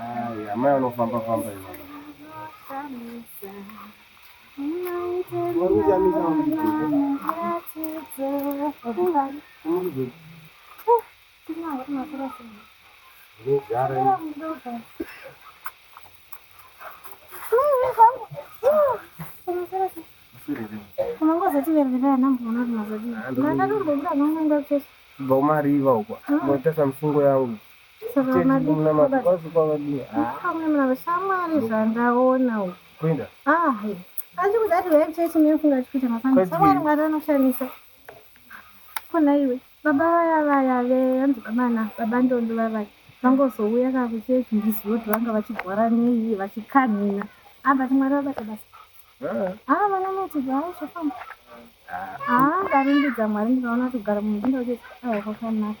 Ai, amai anofamba famba ivava. Vari kuchamisa mudiki. Ndogara ini. Kubva kumariva uko. Moita samusungo yangu. kona iwe baba vaya vaya veanzi bamana baba ndondo vavaya vangozouya ka kuchechi ndizivo kuti vanga vachigwara nei vachikanhina abati mwari vabata basa haa vana mati haa zvafamba haa ndarumbidza mwari ndikaona kuti kugara munhu ndindakuchesi aa kwakanaka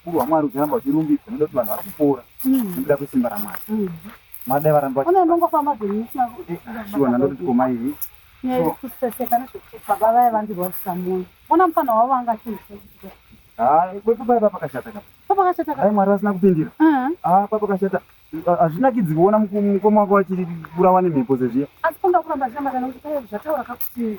Ukuru hwaMwari uchiramba uchirumbidza nekuda kuti vanhu vari kupora mm. nekuda kwesimba raMwari. Mm. Mwari dai varamba shuwa nandoti komai iyi baba vaya vandirwadzisa mwoyo ona mufana wavo anga kwepapaipa pakashata kapakashata dai mwari vasina kupindira uh-huh. ah, papakashata hazvinakidzi kuona mukoma wako vachiburawa nemhepo sezviya asi panga kuramba zvinamata nekuti zvataura kakuti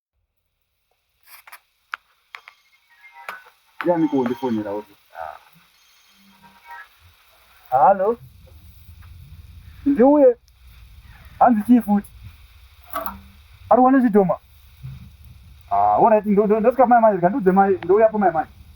ndiani kuondifonera uti halo ndiuye hanzi chii futi ari wane zvidhoma ah, orit ndosvika kumai mai ndiudze mai ndouyapo mai mai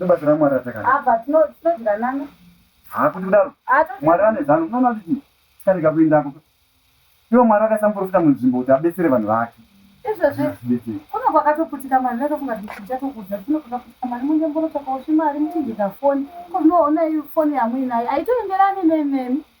nebasa ramwari ratakana apa tinoziranana haa kuti kudaro mwari vane zano unoona kuti chii tikarega kuendako iwo mwari akasamborofita munzvimbo kuti abetsere vanhu vake izvozvi kuno kwakatoputika mari natofunga tichichatokuudza tinokukaputika mari munge mborotsvakawo zvimari muchinjika foni kozvinoona foni yamuinayo aitoenderani nememi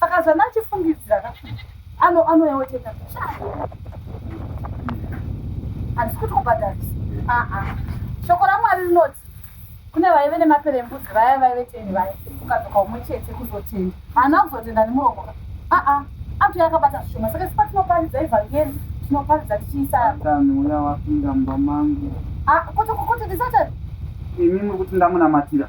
saka zvana achifungidzira ka ano anoyaoteka handisi kuti kubhadharisa aa shoko ramwari rinoti kune vaive nemapere embudzi vaya vaive teni vaya ukadzoka umwe chete kuzotenda haana kuzotenda nemuromo ka aa antu yakabata zvishoma saka sipatinoparidza evhangeri tinoparidza tichiisa satani uya wapinda mumba mangu Ah, kuti kuti ndisatani imi muri kuti ndamunamatira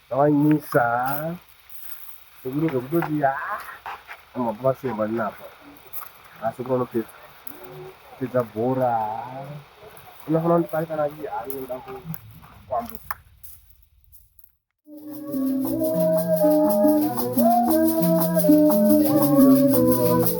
Ndawanyisa sekuru zvekutoti mabvasemba ndinapa asekuru anopedza kupedza bhora unofanira kundipari kana iye anoda kukwambuka Thank you.